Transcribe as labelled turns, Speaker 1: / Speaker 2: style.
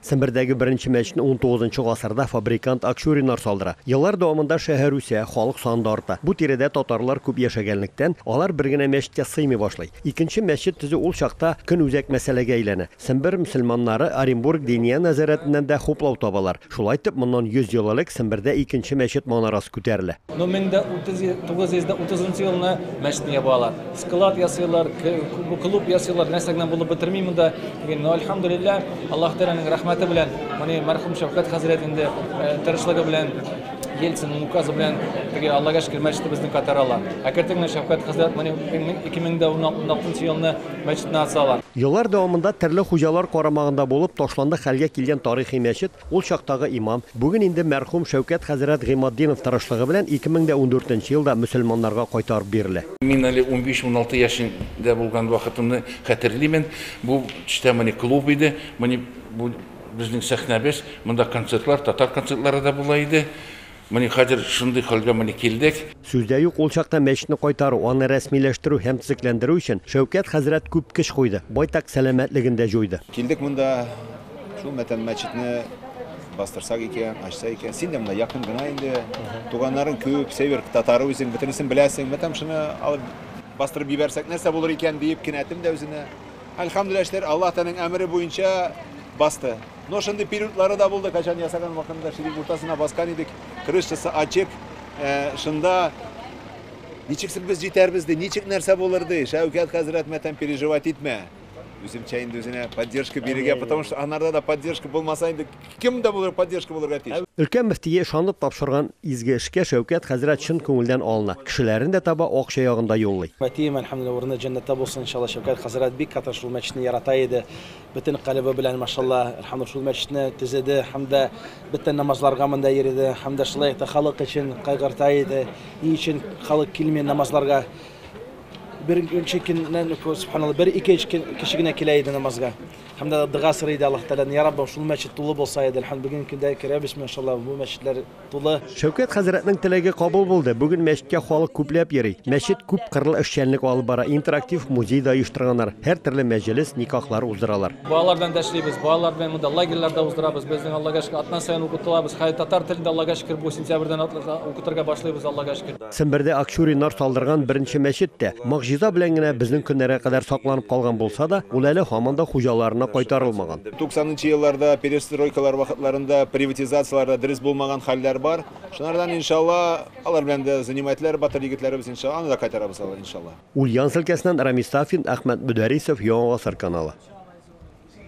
Speaker 1: Сембердәге беренче мәчетне унтугызынчы гасырда фабрикант Акчуриннар салдыра. Еллар дәвамында шәһәр үсә, халык саны да арта. Бу тирәдә татарлар күп яшәгәнлектән, алар бер генә мәчеткә сыймый башлый. Икенче мәчет төзү ул чакта көнүзәк мәсьәләгә әйләнә. Сембер мөселманнары Оренбург Диния нәзарәтеннән дә хуплау табалар. Шулай итеп, моннан 100 ел элек Сембердә икенче мәчет манарасы күтәрелә. Ну мең дә утыз йөз, тугыз йөз дә
Speaker 2: утызынчы елны мәчетне ябалар. Склад ясыйлар, клуб ясыйлар, нәрсә генә булып бетерми монда. Ләкин, ну әлхәмдүлилләһ, Аллаһ Тәгаләнең рәхмәте белән, моны мәрхүм Шәүкәт хәзрәт инде тырышлыгы белән, Ельцинның указы белән теге Аллага шөкер мәчетебезне кайтаралар. Әкертен генә Шәүкәт хәзрәт моны ике мең дә уналтынчы елны, мәчетне асалар. Еллар дәвамында
Speaker 1: төрле хуҗалар карамагында булып, ташландык хәлгә килгән тарихи мәчет, ул чактагы имам, бүген инде мәрхүм Шәүкәт хәзрәт Гыйматдинов тырышлыгы белән 2014 нче елда мөселманнарга кайтарып бирелә. Мин әле унбиш-уналты
Speaker 3: яшендә булган вакытымны хәтерлимен. Бу төштә моны клуб иде. Моны бу безнең сәхнәбез. Монда концертлар, татар концертлары да була иде. Менә хәзер шундый хәлгә менә килдек. Сүз дә юк, ул
Speaker 1: чакта мәчетне кайтару, аны рәсмиләштерү һәм төзекләндерү өчен Шәүкәт хәзрәт күп көч куйды, байтак сәламәтлеген дә җуйды. Килдек монда,
Speaker 4: шул мәтәм мәчетне бастырсак икән, ачса икән. Син дә монда якын гына инде, туганнарың күп, север татары үзең, бөтенесен беләсең. Мәтәм шуны алып бастырып җибәрсәк, нәрсә булыр икән диеп кинәтем дә үзенә. Әлхәмдүлилләһ, эшләр Аллаһ Тәгаләнең әмере буенча басты. Но шундый периодлары да булды, качан ясаган вакытында ширик уртасына баскан идек, крышасы ачык, э, шунда ничек соң без җитәрбез ди, ничек нәрсә булыр ди, Шәүкәт хәзрәт мәтәм переживать итмә. Үземчә инде үзенә поддержка бирергә, потому что анарда да поддержка булмаса инде кем дә булыр поддержка булырга тиеш. Өлкән мөфтие ышанып
Speaker 1: тапшырган изге эшкә Шәүкәт хәзрәт чын күңелдән алына, кешеләрен дә таба, акча ягын да юллый. Әтием, әлхәмдүлилләһ, урыны
Speaker 5: җәннәттә булсын, иншаллаһ, Шәүкәт хәзрәт бик каты шул мәчетне ярата иде. Бөтен калебы белән, машалла, Әлхәмдулла шул мәчетне төзеде һәм дә бөтен намазларга монда йөрде һәм дә шулай ук та халык өчен кайгырта иде. Ни өчен халык килми намазларга? Беренче көннән үк, субханалла, бер-ике кеше генә килә иде намазга. Һәм дә дога сорый иде Аллаһ Тәгаләдән, Я Раббым, шул мәчет тулы булса иде, әлхәмдулилла, бүгенге көндә керәбез, машалла, бу мәчетләр тулы. Шәүкәт хәзрәтнең
Speaker 1: теләге кабул булды. Бүген мәчеткә халык күпләп йөри. Мәчет күп кырлы эшчәнлек алып бара, интерактив музей да оештырганнар, һәртөрле мәҗелес, никахлар уздыралар. Балалар белән дә эшлибез,
Speaker 2: балалар белән монда лагерьлар да уздырабыз. Безнең, Аллага шөкер, атна саен укытылабыз. Хәзер татар телен дә, Аллага шөкер, бу сентябрьдән укытырга башлыйбыз, Аллага шөкер. Сембердә акчуриннар
Speaker 1: салдырган беренче мәчет тә, могҗиза белән генә безнең көннәргә кадәр сакланып калган булса да, ул әле һаман да хуҗаларына кайтарылмаган. Туксанынчы елларда,
Speaker 4: перестройкалар вакытларында приватизацияләр дә дөрес булмаган хәлләр бар. Шунардан, иншалла, алар белән дә занимательләр, батыр егетләребез, иншалла, аны да кайтарабыз алар,
Speaker 1: иншалла. Ульяновск
Speaker 4: өлкәсеннән
Speaker 1: Рамис Сафин,
Speaker 4: Әхмәт Мөдәрисов,
Speaker 1: Яңа Гасыр
Speaker 4: каналы.